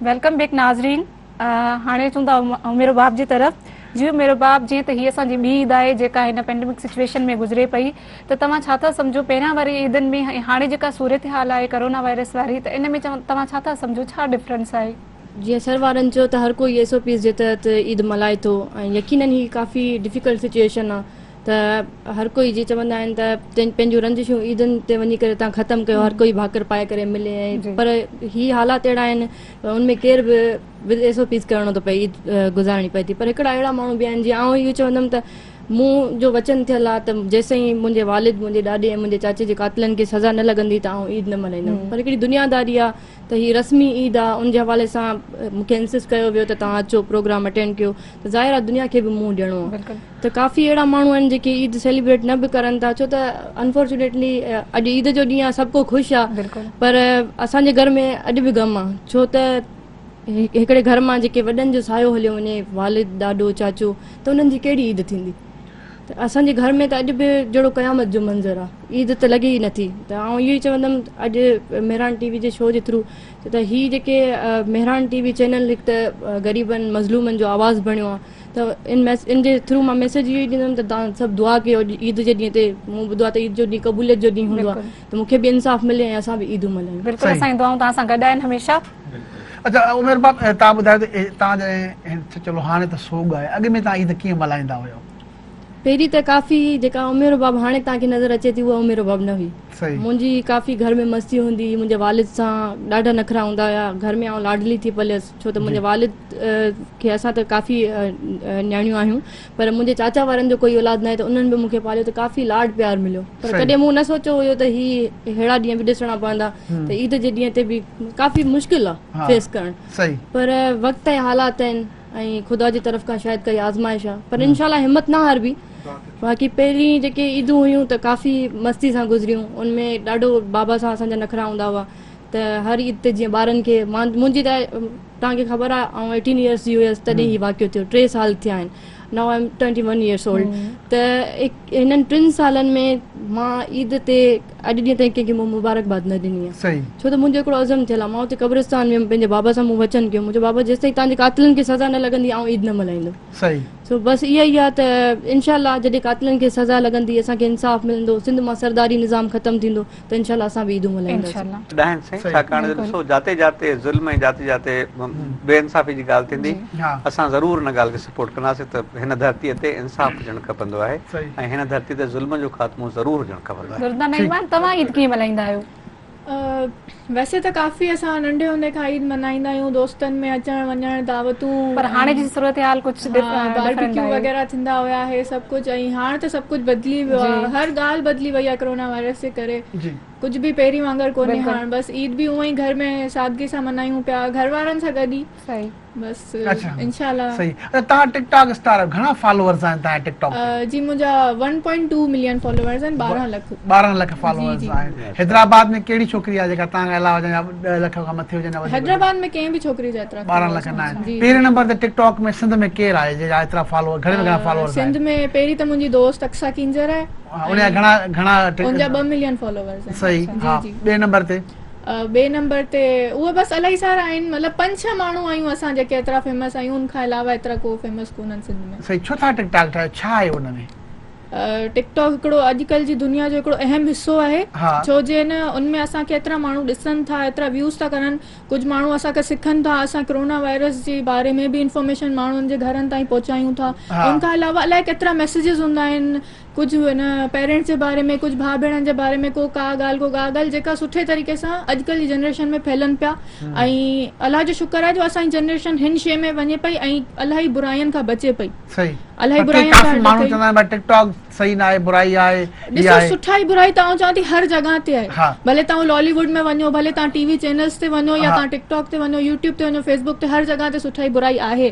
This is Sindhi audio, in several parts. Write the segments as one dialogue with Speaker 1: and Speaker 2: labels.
Speaker 1: ويلڪم بيڪ ناظرين هاڻي چون ٿا عمير باب جي طرف جي عمير باب جيئن ته هي اسان جي ٻي عيد آهي جيڪا هن پينڊمڪ سچويشن ۾ گذري پئي ته توهان ڇا ٿا سمجهو پهريان واري عيدن ۾ ۽ هاڻي جيڪا صورتحال آهي ڪرونا وائرس واري ته ان ۾ توهان ڇا ٿا سمجهو ڇا ڊفرنس آهي. جيئن سر وارن
Speaker 2: چيو ته هر ڪو اي ايس او پيز جي تحت عيد ملهائي ٿو ۽ يقينن هي ڪافي ڊفيڪلٽ سچوئيشن آ ته هر ڪوئي جي چوندا آهن ته پنهنجون رنجشون عيدن تي وڃي ڪري تان ختم ڪيو هر ڪوئي ڀاڪر پائي ڪري ملي ۽ پر هي حالات اهڙا آهن ان ۾ ڪير به ود ايس او پيز ڪرڻو ٿو پئي عيد گذارڻي پئي ٿي پر هڪڙا اهڙا ماڻهو به آهن جي آئون اهو چوندم ته مون جو وچن ٿيل آ ته جيسين منهنجي والد منهنجي ڏاڏي ۽ منهنجي چاچي جي قاتلن کي سزا نه لڳندي ته آئون عيد نه ملهائيندم پر هڪڙي دنياداري آ ته هي رسمي عيد آ ان جي حوالي سان مون کي انسسٽ ڪيو ويو ته توهان اچو پروگرام اٽينڊ ڪيو ته ظاهر آ دنيا کي به منهن ڏيڻو آ ته ڪافي اهڙا ماڻهو آهن جيڪي عيد سيليبريٽ نه به ڪرن ٿا ڇو ته انفارچونيٽلي اڄ عيد جو ڏينهن آ سڀ ڪو خوش آ پر اسان جي گهر ۾ اڄ به غم آ ڇو ته هڪڙي گهر مان جيڪي وڏن جو سايو هليو وڃي والد ڏاڏو چاچو ته انهن جي ڪهڙي عيد ٿيندي. ته اسان جي گهر ۾ ته اڄ به جهڙو قيامت جو منظر آ عيد ته لڳي ئي نه ٿي ته آئون اهو ئي چوندم اڄ مهراڻ ٽي وي جي شو جي ٿرو ته هي جيڪي مهراڻ ٽي وي چينل هڪ ته غريبن مظلومن جو آواز بڻيو آ ته ان ميس ان جي ٿرو مان ميسج اهو ئي ڏيندم ته تان سڀ دعا ڪيو عيد جي ڏينهن تي مون ٻڌو آ ته عيد جو ڏينهن قبوليت جو ڏينهن هوندو آ ته مون کي به انصاف ملي ۽ اسان به عيدون ملهايون. بلڪل اسان جون دعائون توهان سان
Speaker 1: گڏ آهن هميشه. اچا
Speaker 3: عمير بخش تان ٻڌايو ته تان جڏهن چلو هاڻي ته سوڳ آهي اڳ ۾ تان عيد ڪيئن ملهائيندا هيو. پهرين ته
Speaker 2: ڪافي جيڪا عمير رباب هاڻي تان کي نظر اچي ٿي اها عمير رباب نه هئي منهنجي ڪافي گهر ۾ مستي هوندي هئي منهنجي والد سان ڏاڍا نخرا هوندا هيا گهر ۾ آئون لاڏلي ٿي پليس ڇو ته منهنجي والد کي اسان ته ڪافي نياڻيون آهيون پر منهنجي چاچا وارن جو ڪوئي اولاد ناهي ته انهن به مون کي پاليو ته ڪافي لاڏ پيار مليو پر ڪڏهن مون نه سوچيو هيو ته هي ههڙا ڏينهن به ڏسڻا پوندا ته عيد جي ڏينهن تي به ڪافي مشڪل آ فيس ڪرڻ پر وقت ۽ حالات آهن ۽ خدا جي طرف کان شايد ڪائي آزمائش آ پر انشاء الله همت نه هاربي باقي پهرين جيڪي عيدون هيون ته ڪافي مستي سان گذريون ان ۾ ڏاڍو بابا سان اسان جا نخرا هوندا هئا ته هر عيد تي جيئن ٻارن کي منهنجي ته توهان کي خبر آهي آئون ايٽين ايئرس جي هيس تڏهن هي واقعو ٿيو ٽي سال ٿيا آهن now I am twenty one years old ته هنن ٽن سالن ۾ مان عيد تي اڄ ڏينهن تائين ڪنهن کي مون مبارڪباد نه ڏني آهي ڇو ته منهنجو هڪڙو عزم ٿيل آهي مان اتي قبرستان ويم پنهنجي بابا سان مون وچن ڪيو منهنجو بابا جيستائين تهان جي قاتلن کي سزا نه لڳندي آئون عيد نه ملهائيندو بس اها ئي آهي ته انشاء الله جڏهن قاتلن کي سزا لڳندي اسان کي انصاف ملندو سنڌ مان سرداري نظام ختم ٿيندو ته انشاء الله اسان به عيدون ملهائينداسين. ڏاهن سائين ڇاڪاڻ جو ڏسو
Speaker 4: جاتي جاتي ظلم ۽ جاتي جاتي بي انصافي جي ڳالهه ٿيندي اسان ضرور ان ڳالهه کي سپورٽ ڪنداسين ته هن ڌرتي تي انصاف هجڻ کپندو آهي ۽ هن ڌرتي تي ظلم جو خاتمو ضرور هجڻ کپندو آهي. دردانه ايمان توهان عيد ڪيئن ملهائيندا
Speaker 1: آهيو؟
Speaker 5: ويسي ته ڪافي اسان ننڍي هوندي کان عيد ملهائيندا آهيون دوستن ۾ اچڻ وڃڻ دعوتون پر هاڻي جي صورتحال
Speaker 1: ڪجهه باربيڪيو وغيره
Speaker 5: ٿيندا هيا هي سڀ ڪجهه ۽ هاڻ ته سڀ ڪجهه بدلي ويو آهي هر ڳالهه بدلي وئي آهي ڪرونا وائرس جي ڪري ڪجهه به پهرين وانگر ڪونهي هاڻ بس عيد به اونئن ئي گهر ۾ سادگي سان منايون پيا گهر وارن سان گڏ ئي بس انشاء الله صحيح اچھا تان
Speaker 3: ٽڪ ٽاڪ اسٽار آهيو گهڻا فالوورز آهن تان ٽڪ ٽاڪ جي منهنجا 1.2
Speaker 5: ملين فالوورز آهن 12 لک 12 لک
Speaker 3: فالوورز آهن حيدرآباد ۾ ڪهڙي ڇوڪري آهي جيڪا تان علاوه جا 10 لک کان مٿي هجن حيدرآباد ۾ ڪنهن به
Speaker 5: ڇوڪري جا ايترا 12 لک نه آهن پهرين
Speaker 3: نمبر تي ٽڪ ٽاڪ ۾ سنڌ ۾ ڪير آهي جيڪا ايترا فالوور گهڻا فالوورز سنڌ ۾ پهرين ته
Speaker 5: منهنجي دوست اقصا ڪينجهر آهي ان جا گهڻا
Speaker 3: گهڻا ان جا ٻه ملين
Speaker 5: فالوورز آهن صحيح جي ها جي ٻئي نمبر
Speaker 3: تي ٻئي نمبر
Speaker 5: تي اهي بس الائي سارا آهن مطلب پنج ڇهه ماڻهو آهيون اسان جيڪي ايترا فيمس آهيون ان کان علاوه ايترا ڪو فيمس ڪونهن سنڌ ۾ صحيح ڇو ٿا ٽڪ ٽاڪ ٺاهيو
Speaker 3: ڇا آهي ان ۾ ٽڪ ٽاڪ
Speaker 5: هڪڙو اڄڪلهه جي دنيا جو هڪڙو اهم حصو آهي ڇو جي نه ان ۾ اسان کي ايترا ماڻهو ڏسن ٿا ايترا ويوز ٿا ڪرن ڪجهه ماڻهو اسان کان سکن ٿا اسان ڪرونا وائرس جي باري ۾ به انفارميشن ماڻهن جي گهرن تائين پهچايون ٿا ان کان علاوه الائي ڪيترا ميسيجز هوندا آهن ڪجهه ان پيرنٽس جي باري ۾ ڪجهه ڀاء ڀيڻن جي باري ۾ ڪو ڪا ڳالهه ڪو ڪا ڳالهه جيڪا سٺي طريقي سان اڄڪلهه جي جنريشن ۾ ڦهلن پيا ۽ الله جو شڪر آهي جو اسان جي جنريشن هن شي ۾ وڃي پئي ۽ الاهي براين کان بچي پئي الاهي براين کان صحيح
Speaker 3: ناهي برائي آهي ڏسو سٺائي
Speaker 5: برائي ته آئون چوان ٿي هر جڳهه تي آهي ڀلي تهان لالي ووڊ ۾ وڃو ڀلي تهان ٽي وي چينلز تي وڃو يا تهان ٽڪ ٽاڪ تي وڃو يوٽيوب تي وڃو فيسبوڪ تي هر جڳهه تي سٺائي برائي آهي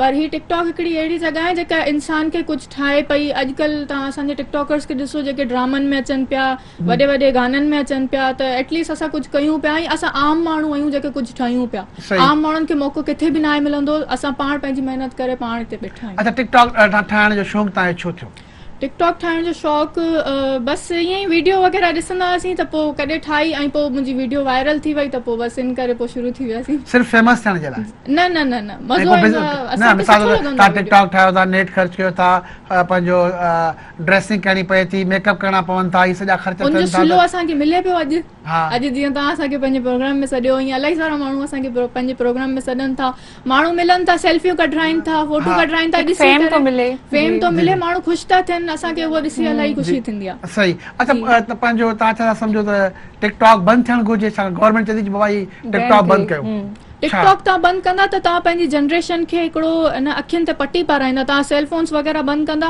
Speaker 5: پر هي ٽڪ ٽاڪ هڪڙي اهڙي جڳهه آهي جيڪا انسان کي ڪجهه ٺاهي پئي اڄڪلهه تهان اسان جي ٽڪ ٽاڪرز کي ڏسو جيڪي ڊرامن ۾ اچن پيا وڏي وڏي گانن ۾ اچن پيا ته ايٽ ليسٽ اسان ڪجهه ڪيون پيا ۽ اسان عام ماڻهو آهيون جيڪي ڪجهه ٺهيون پيا عام ماڻهن کي موقعو ڪٿي به ناهي ملندو اسان پاڻ پنهنجي
Speaker 3: محنت
Speaker 5: ڪري
Speaker 3: پاڻ
Speaker 5: هتي
Speaker 3: ٻيٺا
Speaker 5: آهيون اچا
Speaker 3: ٽڪ
Speaker 5: ٽاڪ
Speaker 3: ٺاهڻ
Speaker 5: جو
Speaker 3: شوق
Speaker 5: تنهنجو
Speaker 3: ڇو
Speaker 5: ٿيو ٽڪ ٽاڪ ٺاهڻ جو شوق بس ائين ئي ويڊيو وغيره ڏسندا هئاسين ته پوء ڪڏهن ٺاهي ۽ پوء منهنجي ويڊيو وائرل ٿي وئي ته پوء بس ان ڪري پوء شروع ٿي وياسين صرف فيمس ٿيڻ جي لاء
Speaker 3: نه نه نه نه
Speaker 5: مزو ايندو آهي اسان کي سٺو لڳندو آهي نه ٽڪ ٽاڪ ٺاهيو ٿا
Speaker 3: نيٽ
Speaker 5: خرچ
Speaker 3: ڪيو ٿا پنهنجو ڊريسنگ ڪرڻي پئي ٿي، ميڪ اپ ڪرڻا پون ٿا، اهي سڄا خرچ ٿين ٿا ته. ان جو صلو اسان کي ملي
Speaker 5: پيو اڄ. اڄ جيئن توهان
Speaker 3: اسان کي
Speaker 5: پنهنجي پروگرام ۾ سڏيو ائين الائي سارا ماڻهو اسان کي پنهنجي پروگرام ۾ سڏن ٿا. ماڻهو ملن ٿا، سيلفيون ڪڍرائين ٿا، فوٽو ڪڍرائين ٿا، ڏسي ڪري فيم ٿو
Speaker 1: ملي، ماڻهو
Speaker 5: خوش ٿا ٿين، اسان کي اهو ڏسي الائي خوشي ٿيندي آهي. صحيح اچا
Speaker 3: پنهنجو توهان ڇا ٿا سمجهو ته ٽڪ ٽاڪ بند ٿيڻ گهرجي ڇا گورنمينٽ چئي ٿي ته بابا هي ٽڪ ٽاڪ بند ڪيو. ٽڪ ٽاڪ توهان
Speaker 5: بند ڪندا ته توهان پنهنجي جنريشن کي هڪڙو ان اکين تي پٽي پارائيندا توهان سيلفونس وغيره بند ڪندا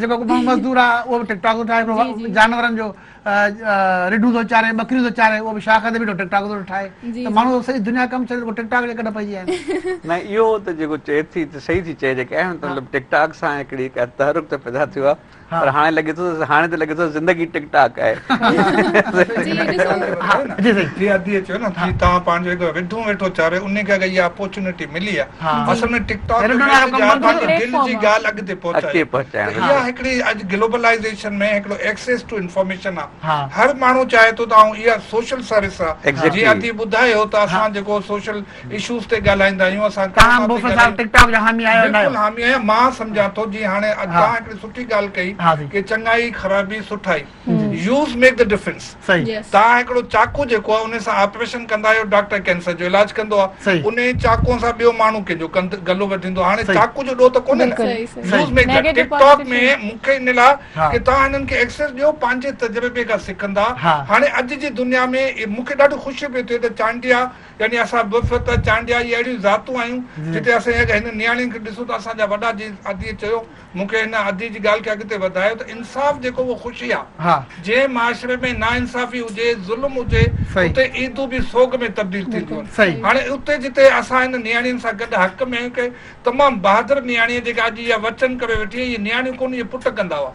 Speaker 3: جيڪو ڪو ماڻهو مزدور آ اهو به ٽڪ ٽاڪ ٿو ٺاهي ڪو جانورن جو رڍون ٿو چاري ٻڪريون ٿو چاري اهو به شاخ تي بيٺو ٽڪ ٽاڪ ٿو ٺاهي ته ماڻهو سڄي دنيا ڪم ڇڏي ٽڪ ٽاڪ جي ڪڍ پئجي ويا آهن نه اهو ته جيڪو
Speaker 4: چئي ٿي ته صحيح ٿي چئي جيڪا اهو مطلب ٽڪ ٽاڪ سان هڪڙي ڪا تحرڪ ته پيدا ٿيو آ پر هاڻي لڳي ٿو ته هاڻي ته لڳي ٿو زندگي ٽڪ ٽاڪ آهي جي صحيح
Speaker 6: جي ادي چيو نه جي تان پنهنجو هڪ رڍون ويٺو چاري انهي کي اگر اها اپورچونيٽي ملي آ اصل ۾ ٽڪ ٽاڪ جو ميسيج آهي پنهنجي دل جي ڳالهه اڳتي پهچائڻ ته اها هڪڙي اڄ گلوبلائيزيشن ۾ هڪڙو ايڪسيس ٽو انفارميشن آ هر ماڻهو چاهي ٿو ته آئون اها سوشل سروس آ جيئن ادي ٻڌايو ته اسان جيڪو سوشل اشوز تي ڳالهائيندا آهيون اسان ڪرونا تي ڳالهائيون ٽڪ ٽاڪ جا
Speaker 3: حامي آهيو بلڪل حامي آهيان مان
Speaker 6: سمجهان ٿو جيئن هاڻي توهان هڪڙي سٺي ڳالهه ڪئي ڪي چڱائي خرابي سٺائي يوز ميڪ دي ڊفرنس توهان هڪڙو چاقو جيڪو آهي ان سان آپريشن ڪندا آهيو ڊاڪٽر ڪينسر جو علاج ڪندو آهي انهي چاقو سان ٻيو ماڻهو ڪنهن جو گلو وڍيندو هاڻي چاقو جو ڏوهه ته ڪونهي نه use make the TikTok ۾ مون کي ان لاء ڪي توهان هنن کي ايڪسيس ڏيو پنهنجي تجربي کان سکندا هاڻي اڄ جي دنيا ۾ مون کي ڏاڍو خوشي پي ٿئي ته چانڊيا يعني اسان بفت چانڊيا اهي اهڙيون ذاتون آهيون جتي اسان هن نياڻين کي ڏسون ته اسان جا وڏا جيئن آديء چيو مون کي هن ادي جي ڳالهه کي اڳتي وڌايو ته انصاف جيڪو اهو خوشي آ. جنهن معاشري ۾ ناانصافي هجي، ظلم هجي، اتي عيدون به سوڳ ۾ تبديل ٿينديون آهن. هاڻي اتي جتي اسان هن نياڻين سان گڏ حق ۾ هڪ تمام بهادر نياڻي آهي جيڪا اڄ اها وچن ڪري ويٺي آهي، اهي نياڻيون ڪونه اهي پٽ ڪندا هئا.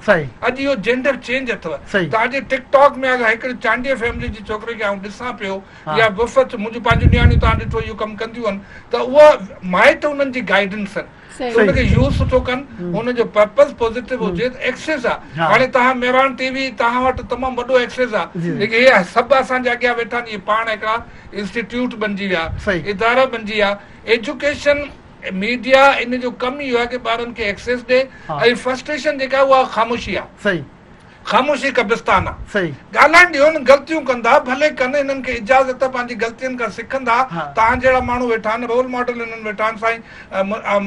Speaker 6: اڄ اهو جينڊر چينج اٿو ته اڄ ٽڪ ٽاڪ ۾ اگر هڪڙي چانڊيي فيملي جي ڇوڪري کي آئون ڏسان پيو يا وفد منهنجون پنهنجون نياڻيون توهان ڏٺو اهو ڪم ڪنديون آهن ته اها مائٽ انهن جي گائيڊنس ان کي يوز سٺو ڪن ان جو پرپز پوزيٽو هجي ته ايڪسيس آ هاڻي تهان ميران ٽي وي تهان وٽ تمام وڏو ايڪسيس آ ليڪن هي سڀ اسان جي اڳيان ويٺا آهن اهي پاڻ هڪڙا انسٽيٽيوٽ بنجي ويا ادارا بنجي ويا ايجوڪيشن ميڊيا ان جو ڪم ئي اهو آ ڪي ٻارن کي ايڪسيس ڏي ۽ فرسٽريشن جيڪا آهي اها خاموشي آ. خاموشي قبرستان آ. ڳالهائڻ ڏيو نه غلطيون ڪندا ڀلي ڪن انهن کي اجازت آ پنهنجي غلطين کان سکندا توهان جهڙا ماڻهو ويٺا آهن رول ماڊل انهن ويٺا آهن سائين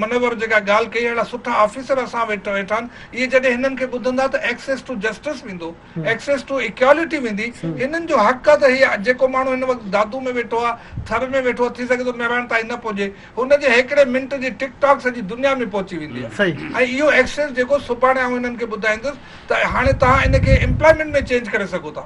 Speaker 6: منور جيڪا ڳالهه ڪئي اهڙا سٺا آفيسر اسان وٽ ويٺا آهن اهي جڏهن هنن کي ٻڌندا ته ايڪسيس ٽو جسٽس ويندو ايڪسيس ٽو ايڪيالٽي ويندي هنن جو حق آ ته هي جيڪو ماڻهو هن وقت دادو ۾ ويٺو آ ٿر ۾ ويٺو آ ٿي سگهي ٿو مهراڻ تائين نه پهجي هن جي هيڪڙي منٽ جي ٽڪ ٽاڪ سڄي دنيا ۾ پهچي ويندي آهي ۽ اهو ايڪسيس جيڪو سڀاڻي آئون هنن کي ٻڌائيندس ته هاڻي توهان ان کي امپلائمينٽ ۾ چينج ڪري سگهو ٿا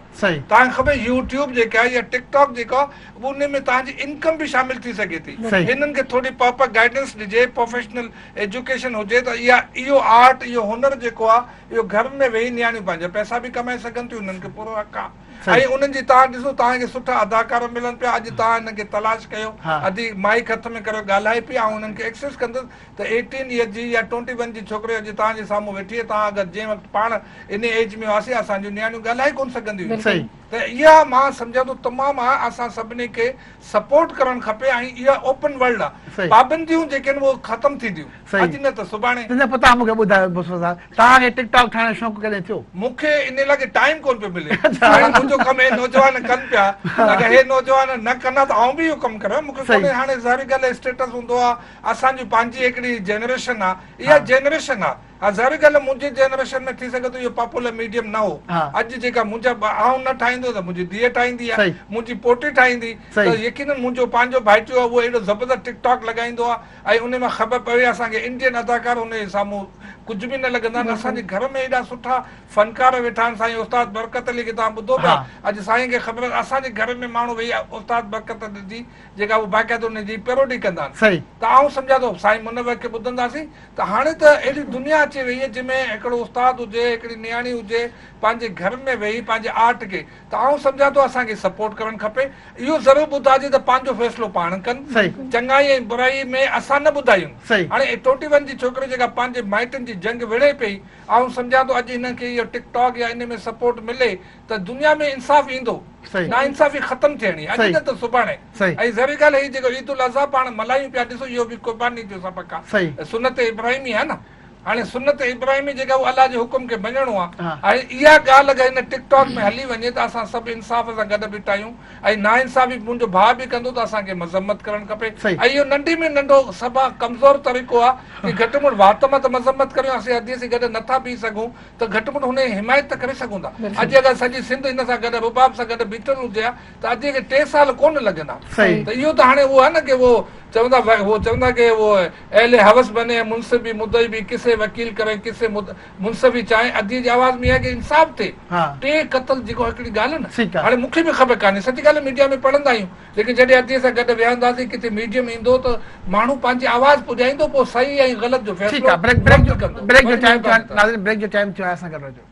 Speaker 6: توهان کي يو ٽيوب جيڪي آهي يا ٽڪ ٽاڪ جيڪو آهي ان ۾ توهان جي انڪم به شامل ٿي سگهي ٿي هنن کي ٿوري پراپر گائيڊنس ڏجي پروفيشنل ايجوڪيشن هجي ته اها اهو آرٽ اهو هنر جيڪو آهي اهو گهرن ۾ ويهي نياڻيون پنهنجا پئسا به ڪمائي سگهن ٿيون هنن کي پورو حق آهي ۽ انهن جي تان ڏسو توهان کي سٺا اداڪار ملن پيا اڄ توهان انهن کي تلاش ڪيو ادي مائيڪ هٿ ۾ ڪريو ڳالهائي پئي آئون انهن کي ايڪسس ڪندس ته ايٽين ايئر جي يا ٽوئنٽي ون جي ڇوڪري اڄ توهان جي سامهون ويٺي آهي توهان اگر جنهن وقت پاڻ انهي ايج ۾ هئاسين اسان جون نياڻيون ڳالهائي ڪون سگهنديون هيون ته اها مان سمجهان ٿو تمام آهي اسان سڀني کي سپورٽ ڪرڻ کپي ۽ اها اوپن ورلڊ آهي پابنديون جيڪي آهن اهي ختم ٿينديون اڄ نه ته سڀاڻي تنهنجا پتا مون کي ٻڌايو
Speaker 3: مصطفيٰ صاحب توهان کي ٽڪ ٽاڪ ٺاهڻ جو شوق ڪڏهن ٿيو؟ مون کي ان لاء ڪي
Speaker 6: ٽائيم ڪون پيو ملي هاڻي منهنجو ڪم هي نوجوان ڪن پيا اگر هي نوجوان نه ڪن ها ته آئون به اهو ڪم ڪريان مون کي ڪونهي هاڻي ظاهري ڳالهه اسٽيٽس هوندو آ اسان جي پنهنجي هڪڙي جنريشن آ اها جنريشن آ ها ظاهري ڳالهه منهنجي جنريشن ۾ ٿي سگهي ٿو اهو پاپولر ميڊيم نه هو اڄ جيڪا منهنجا آئون نه ٺاهيندو ته منهنجي ڌيء ٺاهيندي يا منهنجي پوٽي ٺاهيندي ته يقينن منهنجو پنهنجو ڀائٽيو آ اهو اهڙو زبردست ٽڪ ٽاڪ لڳائيندو آ اهي انهي مان خبر پوي اسان کي انڊين اداڪار انهي جي سامهون ڪجهه به نه لڳندا آهن اسان جي گهر ۾ ايڏا سٺا فنڪار ويٺا آهن سائين استاد برڪت علي کي توهان ٻڌو پيا اڄ سائين کي خبر آهي اسان جي گهر ۾ ماڻهو ويهي استاد برڪت علي جي جيڪا هو باقاعده انهي جي پيروڊي ڪندا آهن ته آئون سمجهان ٿو سائين منور کي ٻڌنداسين ته هاڻي ته اهڙي دنيا اچي ويئي جنهن ۾ هڪڙو استاد هجي هڪڙي نياڻي هجي پنهنجي گهر ۾ ويهي پنهنجي آرٽ کي ته آئون سمجهان ٿو اسان کي سپورٽ ڪرڻ کپي اهو ضرور ٻڌائجي ته پنهنجو فيصلو پاڻ ڪن چڱائي ۽ برائي ۾ اسان نه ٻڌايون هاڻي اهي ٽوئنٽي ون جي ڇوڪري جيڪا پنهنجي مائٽن جي جنگ وڙهي پئي آئون سمجهان ٿو اڄ هنن کي اهو ٽڪ ٽاڪ يا انهي ۾ سپورٽ ملي ته دنيا ۾ انصاف ايندو ناانصافي ختم ٿيڻي اڄ نه ته سڀاڻي ۽ ظاهري ڳالهه هي جيڪو عيد الاضحيٰ پاڻ ملهايون پيا ڏسو اهو به قرباني جو سبق آهي سنت ابراهيمي آهي نه هاڻي سنت ابراهيمي جيڪا هو الله جي حڪم کي مڃڻو آ هاڻي اها ڳالهه اگر هن ٽڪ ٽاڪ ۾ هلي وڃي ته اسان سڀ انصاف سان گڏ بيٺاهيون ۽ ناانصافي منهنجو ڀاء به ڪندو ته اسان کي مذمت ڪرڻ کپي ۽ اهو ننڍي ۾ ننڍو سڀا ڪمزور طريقو آ ڪي گهٽ مڙ وات مان ته مذمت ڪريون اسين هدي سي گڏ نٿا بيهي سگهون ته گهٽ مڙ هن جي حمايت ته ڪري سگهون ٿا اڄ اگر سڄي سنڌ هن سان گڏ رباب سان گڏ بيٺل هجي ها ته اجي کي ٽي سال ڪونه لڳندا ته اهو ته هاڻي اهو آهي نه ڪي اهو چوندا اهو چوندا ڪي اهو اهل حوس بني ۽ منصف به مدعي به قصي وڪيل ڪرين قصي منصف ئي چاهين اجي جي آواز ۾ اهو آهي ڪي انصاف ٿئي ٽي قتل جيڪو هڪڙي ڳالهه نه هاڻي مون کي به خبر ڪانهي سچ ڳالهه ميڊيا ۾ پڙهندا آهيون ليڪن جڏهن اجي سان گڏ ويهنداسين ڪٿي ميڊيم ايندو ته ماڻهو پنهنجي آواز پڄائيندو پوء صحيح ۽ غلط جو
Speaker 3: فيصلو وقت ڪندو